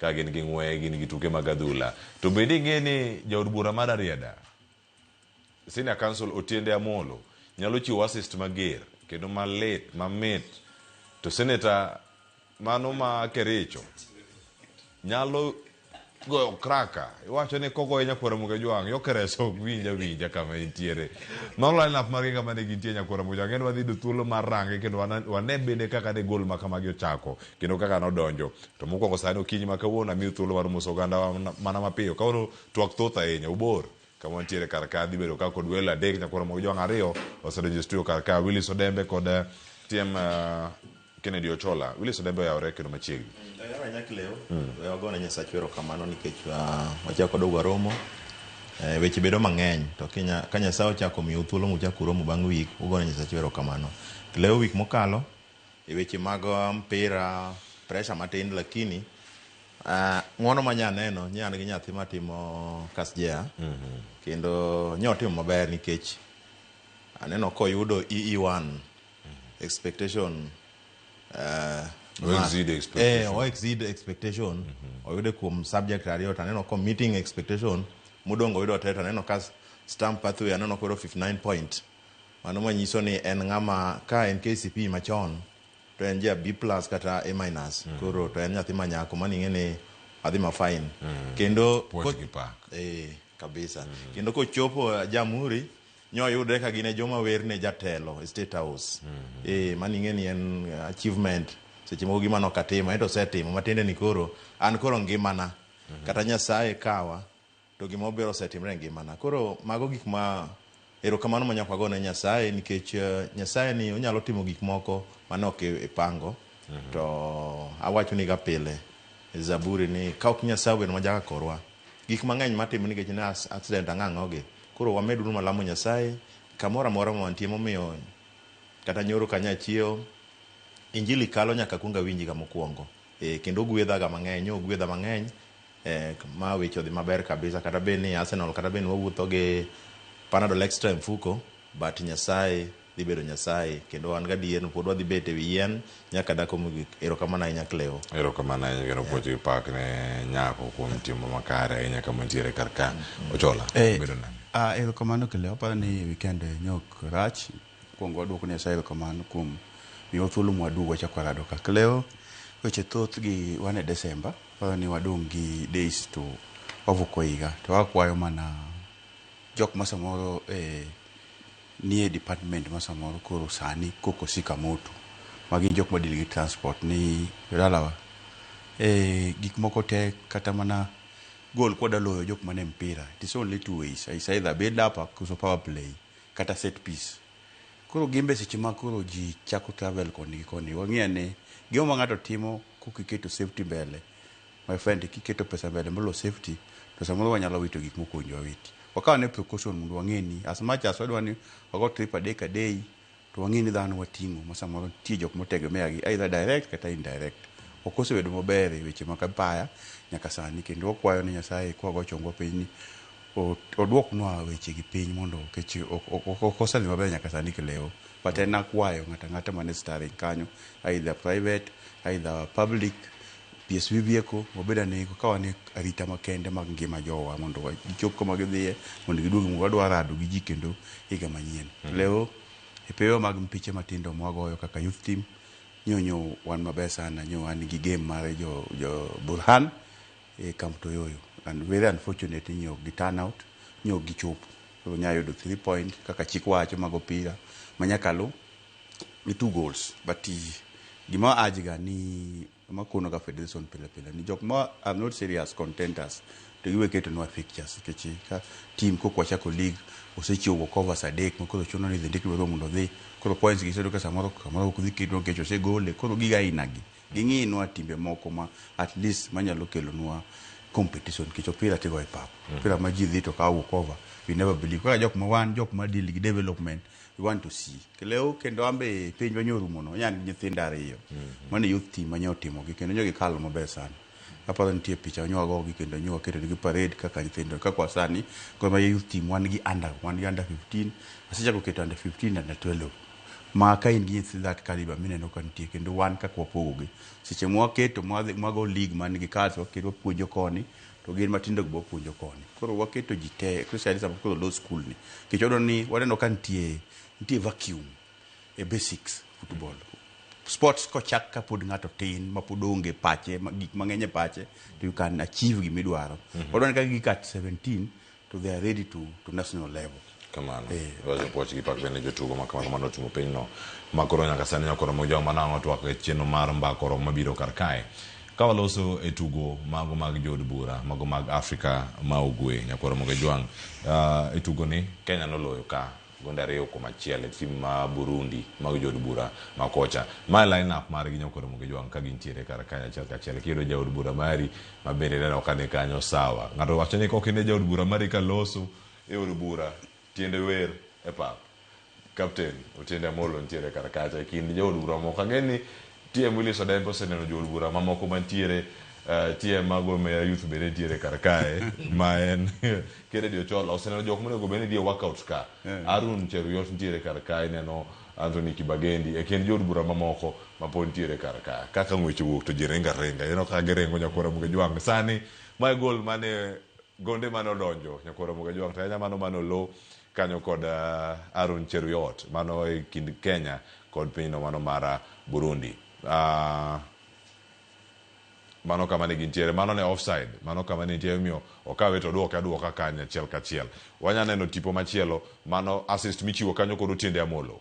ka gin gi ng'we, gin gi tuke mag adhula. To bende ing'e ni jaod bura mar Ariada, Senior Council Otiende Amolo nyalo chiwo assist mager kendo malit, mamit. To Senator mano ma Kericho nyalo goyo kraka iwacho ni kogoye nyakwara muga jwang' yo kereso ok winj awinja kama entiere mano lineup margi kama ne gintie nyakwara muga jwang' en wadhi yudo thuolo mar range kendo wana- wane bende kaka de gol ma kamagi ochako kendo kaka nodonjo to mokwongo sani okinyi ma kawuono amiyo thuolo mar moso oganda wa mana- mana mapiyo kawuono twak thoth ahinya obor kama wantiere kar ka dhi bedo ka kod welo adek nyakwara moko jowang' ariyo osedonjo e studio kar ka willis odembe kod eh, tm eh, kennedy ochola willis odembe oyawore kendo machiegni Ayora Nyakleo, we wagone Nyasach wero kamano nikech ah, wachako dogo waromo. Eh, weche bedo mang'eny to kinya, ka Nyasaye ochako miyo thuolo muchako uromo bang' wik, ugone Nyasach wero kamano. Kleo wik mokalo E weche mag mpira pressure matin lakini uh, ng'wono ma nya neno nya an gi nyathi matimo kasjea mm -hmm. kendo nya otimo maber nikech aneno koyudo EE1 mm -hmm. expectation uh, exceed expectation. Eh, o exceed expectation mm -hmm. oyude kuom subject ariyo to aneno ko meeting expectation mudongo yudo teta aneno ka stamp pathway aneno koro 59 point Mano manyiso ni en ng'ama ka en KCP machon to en ja B plus kata A minus mm. koro to en nyathi manyako mani ing'e ni adhi ma fine mm. kendo eh, kabisa mm. kendo kochopo eh, Jamhuri nyoyudre ka gine joma werne jatelo e State House mm -hmm. eh, mani ing'e ni en achievement seche moko gima nokatimo ento osetimo matiende ni koro an koro ngimana mm -hmm. kata Nyasaye kawa To gima ober osetimre e ngimana. Koro mago gik ma erokamano ma nyaka wagone Nyasaye nikech eh, Nyasaye ni onyalo timo gik moko mane ok i- ipango. Mhm. To awachoniga pile e Zaburi ni ka ok Nyasaye obedo ma jaka korwa, gik mang'eny matimo nikech ne as- accident ang'o ang'ogi. Koro wamed uru malamo Nyasaye kamoro amora ma wantie momiyo kata nyoro kanyo achiewo injili kalo nyaka akuong awinjiga mokuongo. Eh, kendo ogwedhaga mang'eny, ogwedha mang'eny Ma weche odhi maber kabisa kata bed ni Arsenal kata bed ni wawuotho gi panadol extra e mfuko but Nyasaye dhi bedo Nyasaye kendo wan gadier ni pod wadhi bet e wi yien nyaka dako mogik. Erokamano ahinya Cleo. Erokamano ahinya kendo puoch gi pak ne nyako kuom timo makare ahinya kama nitiere kar ka. Ochola, Eh, bedo nade? ah, erokamano Cleo. Aparo ni weekend ne ok rach. Wakuongo waduoko Nyasaye erokamano kuom miyowa thuolo mwadwogo wachak warado ka. Klewo weche thoth gi wan e Desemba, waparo ni wadong' gi days to wavuko higa. To akwayo mana jok ma samoro e nie department ma samoro koro sani koko sika moto, ma gin jok ma deal gi transport ni dalawa e gik moko tek kata mana goal kwa dwa loyo jok mane mpira, it is only two ways, is either bed up koso power play. kata set piece. Koro gin be seche ma koro ji chako travel koni gi koni, wang'i ane gimoro ma ng'ato timo kok iketo safety mbele, my friend kiketo pesa mbele moloyo safety to samoro wanyalo wito gik mok owinjo wawiti. Wakaw ane precaution mondo wang'e ni as much as wadwa ni wago trip a day ka day to wang'e ni dhano wating'o ma samoro nitie jok motegemea gi either direct kata indirect. Ok osebedo maber e weche mag apaya nyaka sani kendo wakwayo ni Nyasaye kwago chongwa piny ni Oduoknwa weche gi piny mondo kech ok oselni maber nyaka sani kilewo. But en akwayo ng'ato ang'ata mane starring kanyo either private, either public, PSV vehicle wabed ane ka wan e arita makende mag ngima jowa mondo gichop kama gidhiye mondo giduogi mondo wadwa rado gi ji kendo higa manyien. Lewo, epewa mag mpiche matindo mwagoyo kaka youth team, nyo nyo wan maber sana, nyo an gi game mar jo Burhan. E Kamtoyoyo and very unfortunate ni ok gi turn out, ni ok gichopo. Koro Nyayo oyudo three point kaka chik wacho mag opira ma nyaka lu gi two goals but gima a urge ga ni ma akono ga federation pile pile ni jok ma are not serious contenders to giwe ketonwa fixtures nikech ka team kok wachako league osechiwo go covers adek ma koro chuno ni idhi ndik lwedo mondo odhi. Koro points gi isebedo ka samoro kamoro ok dhi keto nikech osegole. Koro gige aina gi. Ging'inwa timbe moko ma at least manyalo kelonwa competition nikech opira tigoyo e pap. Opira ma ji dhi to kawo walk over, you never believe. Kaka jok ma wan jok ma deal gi development, we want to see. Kelewo kendo an be penjwa nyorumono, anya an gi nyithinda ariyo. Mano e youth team manya otimogi kendo nyo gikalo maber sana. Aparo nitie picha nyo wago gi kendo nyo waketo negi parade kaka nyithindo. Kaka kwa sani, Gor Mahia Youth Team wan gi under, wan gi under 15, asechako keto under 15 na under 12. Ma ka in gi nyithi that caliber mineno ka nitie kendo wan kaka wapogo gi. Seche ma waketo ma wadhi mago league man gi cars waketo wapuonjo koni to gin matindo gi be wapuonjo koni. Koro waketo ji te especially sama koro olo school ni. Nikech wadwa ni waneno ka nitie, nitie vacuum. e basics football sports kochak ka pod ng'ato tin ma pod onge pache ma- gik mang'eny e pache to you can achieve gima idwaro Mhm. odwan ka gik at 17 to they are ready to, to national level kamano wacho puoch gi pak bende jotugo ma kamano mane ochungo pinyno ma koro nyaka sani nyaka oromo joma nang' otwak e chenro mar mbako rom mabiro kar kae ka waloso e tugo mago mag jood bura mago mag afrika ma ugwe nyaka oromo gi jwang' Ah, e tugoni kenya noloyo ka Gonde ariyo kuom achiel e tim ma Burundi mag jood bura ma kocha. Mae line up margi Nyokoromo gi Jwang' ka gintiere kar kae achiel kachiel. Kiyudo jaod bura mari ma bende ineno ka ni kanyo sawa. Ng'ato wacho ni kok ine jaod bura mari ka loso e od bura tiende wer e pap. Captain Otiende Amollo nitiere kar kacha e kind jood bura moko. Ageni TM Willis Odembe oseneno jood bura mamoko mantiere uh, eh, TM ma Gor Mahia Youth bende nitiere kar kae ma en Kennedy Ochola oseneno jok monego bed ni dhie workout ka eh. Arun Cheruyot nitiere kar kae neno Anthony Kibagendi e kind jood bura mamoko ma pod nitiere kar kae kaka ng'weche wuok to ji ringa ringa ineno ka giringo nyakora muge jwang' sani mae gol mane gonde mane odonjo nyakora muge jwang' to anya mano mane olo kanyo kod Aaron Cheruiyot mano e kind Kenya kod pinyno mano mar Burundi. Uh, mano kama ne gintiere mano ne offside mano kama ne nitie omiyo okawe to duoke aduoka kanya achiel kachiel wanya neno tipo machielo mano assist michiwo kanyo kod otiende amolo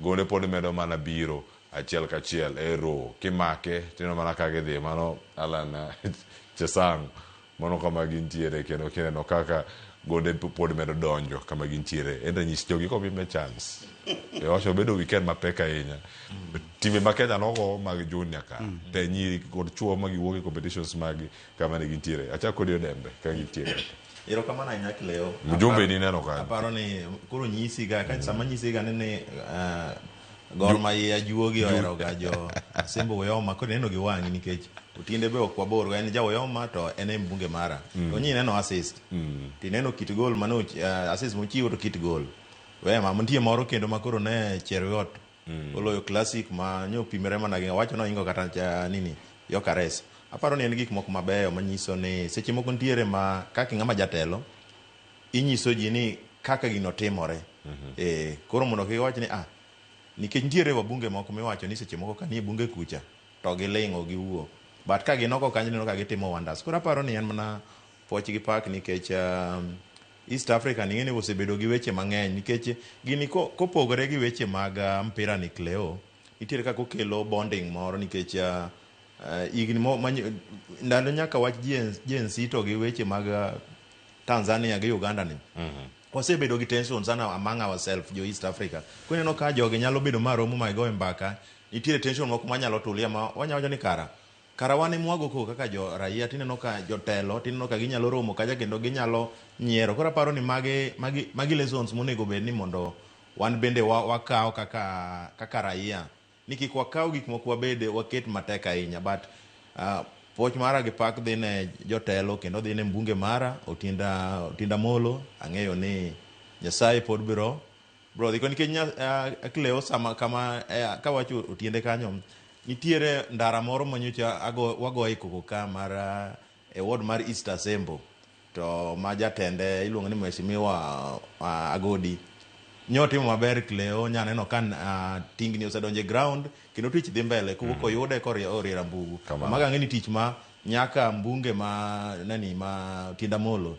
Gole pod medo mana biro achiel kachiel eroo kimake tineno mana ka gidhi mano Allan Chesang mano kama gintiere kendo kineno kaka gode pod medo donjo kama gintiere enda nyis jogi komi me chance ewacho bedo weekend mapek ahinya timbe ma Kenya nogo mag junior ka te nyiri kod chuo ma giwuok e competitions magi kama ne gintiere achak kodi odembe ka gintiere Erokamano ahinya Cleo. Mjumbe ni neno kanyo. Aparo ni koro nyisi ga ka sama nyisi ga ni ni eh, Gor Mahia juogi ohero ga jo Asembo Oyoma koro neno gi wang'i nikech Otiende be ok wabor go en ja Oyoma to en e mbunge mara. To nyi neno assist. To ineno kit gol mane och- eh, assist mochiwo to kit gol. Wema nitie moro kendo ma koro ne Cheruiyot mm. oloyo classic ma nyo pimere mana gi wacho noingo kata cha nini yokares aparo ni en gik moko mabeyo manyiso ni seche moko nitiere ma kaka ng'ama jatelo inyiso ji ni kaka gino timore mm -hmm. e, koro mondo kiwach ni ah nikech nitiere wabunge moko miwacho ni seche moko kanie bunge kucha to giling'o giwuok but ka ginoko kanyo neno ka gitimo wonders koro aparo ni en mana Pwoch gi pak nikech East Africa ni ing'eni osebedo gi weche mang'eny nikech gini kopogore gi weche mag mpira ni Cleo, nitiere kaka okelo bonding moro nikech higni ndalo nyaka wach Gen Z to gi weche mag Tanzania gi Uganda ni, wasebedo gi tension sana among ourselves jo East Africa. Koro ineno ka jogi nyalo bedo ma romo ma gigoe mbaka, nitiere tension moko manyalo tulia ma wanya wacho ni kara Kara wan emwago koko kaka jo raia tineno ka jotelo tineno ka ginyalo romo kacha kendo ginyalo nyiero. Koro aparo ni magi magi magi lessons monego bed ni mondo wan bende wa wakaw kaka kaka raia. Ni kik wakaw gik moko wabed waket matek ahinya but puoch mara gi pak dhi ne jotelo kendo dhi ne mbunge mara Otinda Otinda Amolo. Ang'eyo ni Nyasaye pod biro Bro, dhiko nikech nya- eh, aklewo sama kama eh, kawacho otiende kanyo nitiere ndara moro manyocha ago- wagoye koko ka mar ah, e ward mar East Asembo to ma jatende iluongo ni Mheshimiwa ah, Agodi nyotimo maber Cleo nyaneno ka ah, tingni osedonjo e ground kendo tich dhi mbele koko koyude koriera mbugu Kamano. maga ng'e ni tich ma nyaka mbunge ma nani ma Tienda Molo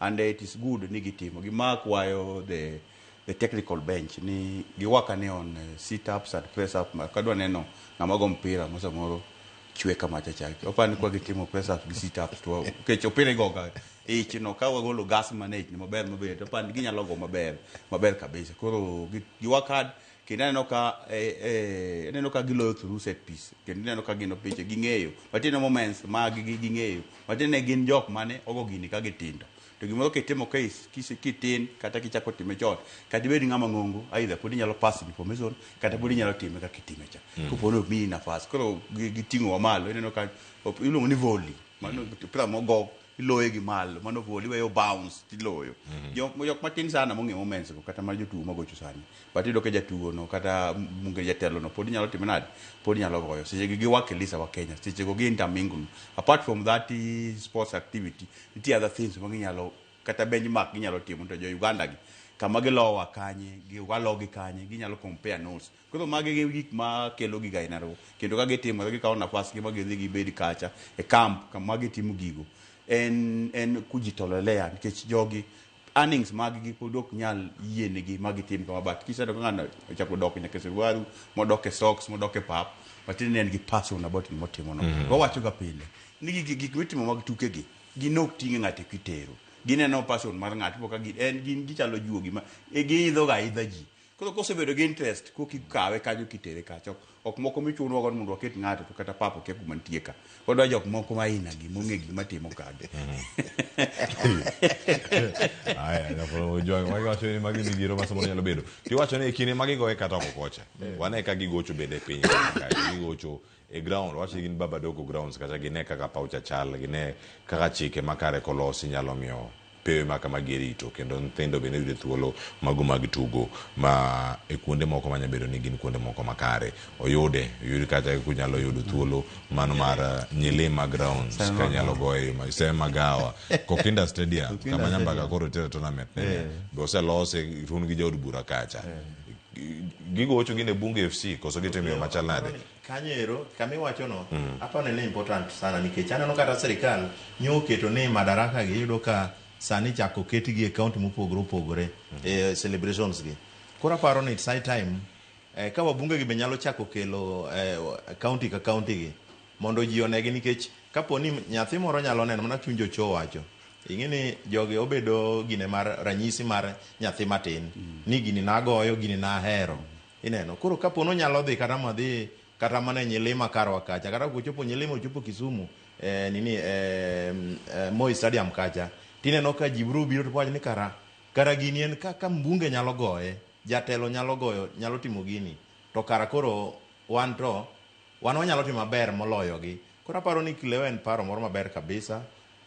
And it is good ni gitimo. Gima akwayo the the technical bench ni giwak ane on eh, sit ups and press up ma kadwa neno ng'ama go mpira ma samoro chwe kama cha cha. Opa ni kwa gitimo press up gi sit ups to kech opira igoga ich no ka wagolo gas manage ni maber maber to pan ginyalo go maber maber kabisa. Koro gi- giwak hard kendo aneno ka eh, eh, aneno ka giloyo through set piece kendo ineno ka gin opiche ging'eyo matine moments mag gi ging'eyo matine gin jok mane ogo gini ka gitindo to gimoro kitimo ka is- kise- kitin kata kichako time chon kata ibed ng'ama ng'ongo aidha pod inyalo pass information kata pod inyalo time kaka itime cha Mm. kopo ni omiyi nafas koro gi- giting'owa malo ineno ka op- iluongo ni volley mano opira mogo iloye gi malo mano vol iweyo bounce tiloyo mm-hmm. jok jok matin sana mong'e moments go kata mar jotugo magocho sani but iyudo ka jatugo no kata munge jatelo no pod inyalo timo nade pod inyalo goyo seche gi giwak elisa wa Kenya seche go gi intermingle apart from that eh, sports activity nitie other things ma ginyalo kata benchmark ginyalo timo to jo Uganda gi kama gilowa kanye giwalo gi kanye ginyalo compare notes Koro magi gi gik ma kelo giga aina ro. Kendo ka gitimore gikawo nafas gi ma gidhi gibed kacha e camp kama gitimo gigo. En en kujitolelea nikech jogi earnings mag gi pod ok nyal yienegi ma gitim kama but kiseneno ka ng'ano ochako dok nyaka e suruaru, modok e socks, modok e pap, matiende ni en gi passion about gima otimo no. Mm. Wawacho ga pile ni gigi gik mitimo mag tuke gi gin ok ting' ng'ato kitero. Gineno passion mar ng'ato ipo ka gin en gin gichalo juogi ma e giidho ga aidha ji. Koro kosebedo gi interest koki kawe kanyo kitere kacha. Ok moko michunwa gon mondo waket ng'ato to kata papa kia kuma nitie ka. Wadwa jok moko ma ina gi mong'e gik matimo kage. Aya, kapolo jo ma wacho ni magi ni giro masomo nyalo bedo. Ti wacho ni kine magi goye kata ok okocha. Wane ka gigocho bende piny ka gigocho e ground wach gin baba dogo grounds kacha gine kaka paw cha chal gine kaka chike makare kolosi nyalo miyo pewe ma kama gerito kendo nyithindo bende yudo thuolo mago mag tugo ma e kuonde moko manya bedo ni gin kuonde moko makare oyude oyud kata kunyalo yudo thuolo mano mar uh, nyilima grounds Sema ka nyalo goyo ma- sema gawa kokinda stadium Kokinda kama nyambaka Stadium. koro tere tournament nene Eh. be oselose tun gi jaod bura kacha Gigocho gin e Bunge FC koso gitimo yo machal nade? Kanyo ero kama iwachono mm. aparo ni important sana nikech aneno kata sirikal nyo oketo ni madaraka gi iyudo ka sani chako ketgi e kaunti mopogore opogore mm. e celebrations gi. Koro aparo ni it's high time eh, ka wabunge gi be nyalo chako kelo eh, kaunti ka kaunti gi Mondo ji onegi nikech kapo ni nyathi moro nyalo neno mana chuny jocho wacho. Ing'e ni jogi obedo gine mar ranyisi mar nyathi matin ni gini nagoyo, gini nahero. Ineno? Koro kapo ni onyalo dhi kata madhi kata mana e nyilima karwa kacha kata kochopo nyilima ochopo Kisumu e nini e Moi Stadium kacha tineno ka ji biro biro to wacho ni kara kara gini en ka, ka mbunge nyalo goye, jatelo nyalo goyo, nyalo timo gini to kara koro wan to Wan wanyalo timo maber moloyogi. Koro aparo ni kileo en paro moro maber kabisa.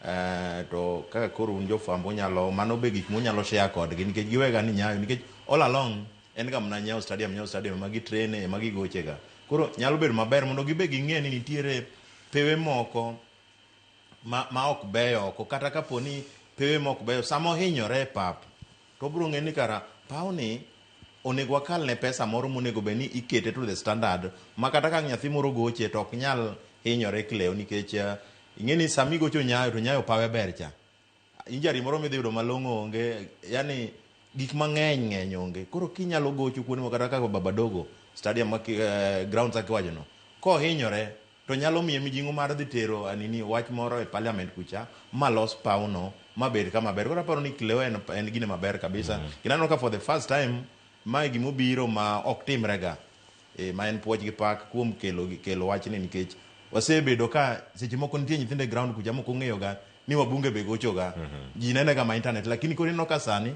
Eh, to kaka koro un jofwambo unyalo mano be gik munyalo share kodgi nikech giwega ni nyayo nikech all along en ga mna nyayo stadium nyayo stadium ema gitrene ema gigochega koro nyalo bedo maber mondo gibe ging'e ni nitiere pewe moko ma, ma ok beyo oko kata kapo ni pewe mok beyo sama ohinyore e pap to obiro ng'eyo ni kara pawni onego wakalne pesa moro monego bed ni ikete to the standard ma kata ka nyathi moro goche to ok nyal hinyore klewo nikech eh, ing'e ni sama igocho nyayo to nyayo pawe ber cha injari moro midhi yudo malong'o onge yani gik mang'eny ng'eny onge koro kinyalo gocho kuonde moko kata kaka babadogo stadium ma ki- eh, grounds akiwachono kohinyore to nyalo miye mijing'o mar dhi tero anini wach moro e parliament kucha ma los paw no ma bed kama ber. Koro aparo ni Kileo en, en gine maber kabisa. Mm. Kendo aneno ka for the first time ma e gima obiro ma ok timre ga. E, ma en puoch gi pak kuom kelo, kelo wachni nikech wasebedo ka seche moko nitie nyithindo e ground kucha moko ong'eyo ga ni wabunge be gocho ga. Mm -hmm. Ji nene ga ma internet lakini koro ineno ka sani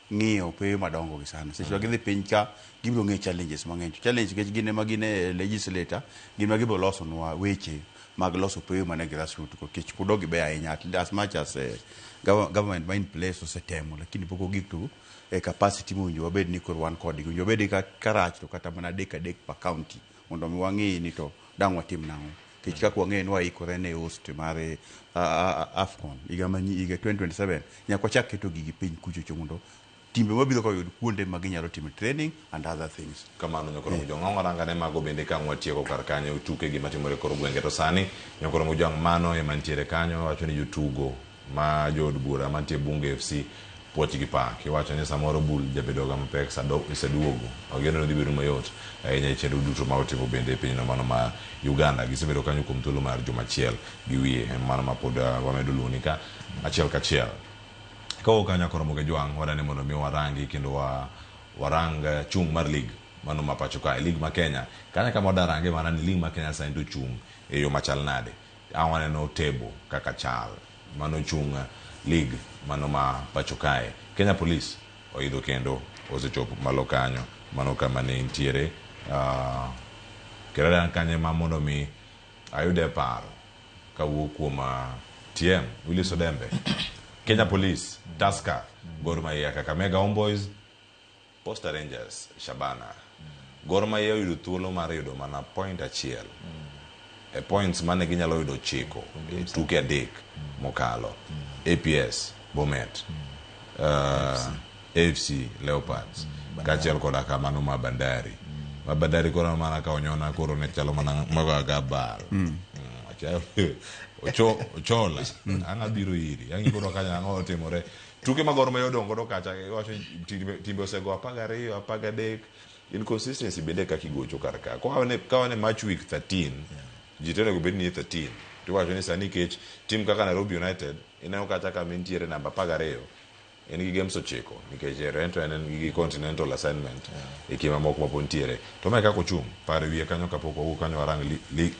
ng'iyo pewe madongo gi sana seche ma gidhi piny ka gibiro ng'eyo challenges mang'eny to challenge nikech gin ema gin e legislator gin ma gibiro losonwa weche mag loso pewe mana e grassroot ko kech pod ok gibeyo ahinya at- as much as eh, gov- government ma in place osetemo lakini pok ogik to e capacity mowinjo wabed ni koro wan kodgi owinjo wabed ka karach to kata mana adek adek per county mondo mi wang'eyi ni to dang' watim nang'o kech kaka wang'eyo ni waikore ne host mar eh, a- a- a- afcon higa manyi higa 2027 nyaka wachak keto gigi piny kuchocho mondo timbe mabiro ka oyud kuonde ma ginyalo timo training and other things kamano nyokoro mujong' ang' waranga ne mago bende ka ang' watieko kar kanyo tuke gima timore kor gwenge to sani nyokoro mujong' mano ema nitiere kanyo wacho ni jotugo ma jo od bura mantie Bunge FC puoch gi pak. Iwacho ni samoro bul jabedoga mapek sa dok gi sa duogo. Wageno ni dhi bedo mayot ahinya e chenro duto ma watimo bende e pinyno mano ma Uganda. Gisebedo kanyo kuom thuolo mar juma achiel gi wiye en mano ma pod wamedo luwoni ka achiel kachiel. Kawo kanyo ak Ramogi Ajwang' wadani mondo mi warangi kendo wa, warang chung' mar lig mano ma pacho kae, lig ma Kenya. Kanyo e kama wadarange mana ni lig ma Kenya sani to ochung' e yo machal nade. Ka waneno table kaka chal mane ochung league mano ma pacho kae, Kenya Police oidho kendo osechopo malo kanyo, mano kama ne intiere kendo en kanyo ema mondo mi ayude paro kawuok kuom TM Willis Odembe, Kenya Police, Tusker, Gor Mahia, Kakamega Homeboyz. Posta Rangers, Shabana, Gor Mahia oyudo thuolo mar yudo mana point achiel e points mane ginyalo yudo chiko e tuke adek mokalo. APS, Bomet, uh, AFC, Leopards, kaachiel koda ka mano ma Bandari. Ma Bandari koro mana ka onyona koro ne chalo mana maga gabal. Mm, achayo- Ocho- Ochola, ang'a biro iri, ang'i koro kanya ang'o otimore. Tuke mag Gor Mahia odong' godo kacha iwacho ni timbe, timbe osego apar gariyo, apar gadek. Inconsistency bende kaka igocho kar ka. Ka wane, ka wane match week 13, ji to onego bed ni 13. To iwacho ni sani kech tim kaka Nairobi United ineno kacha kama entiere namba apar gariyo en gi games ochiko nikech Rento en en gi continental assignment e kima moko mapod nitiere. To mae kaka ochung' par wiye kanyo kapok wawuok kanyo warang li, li,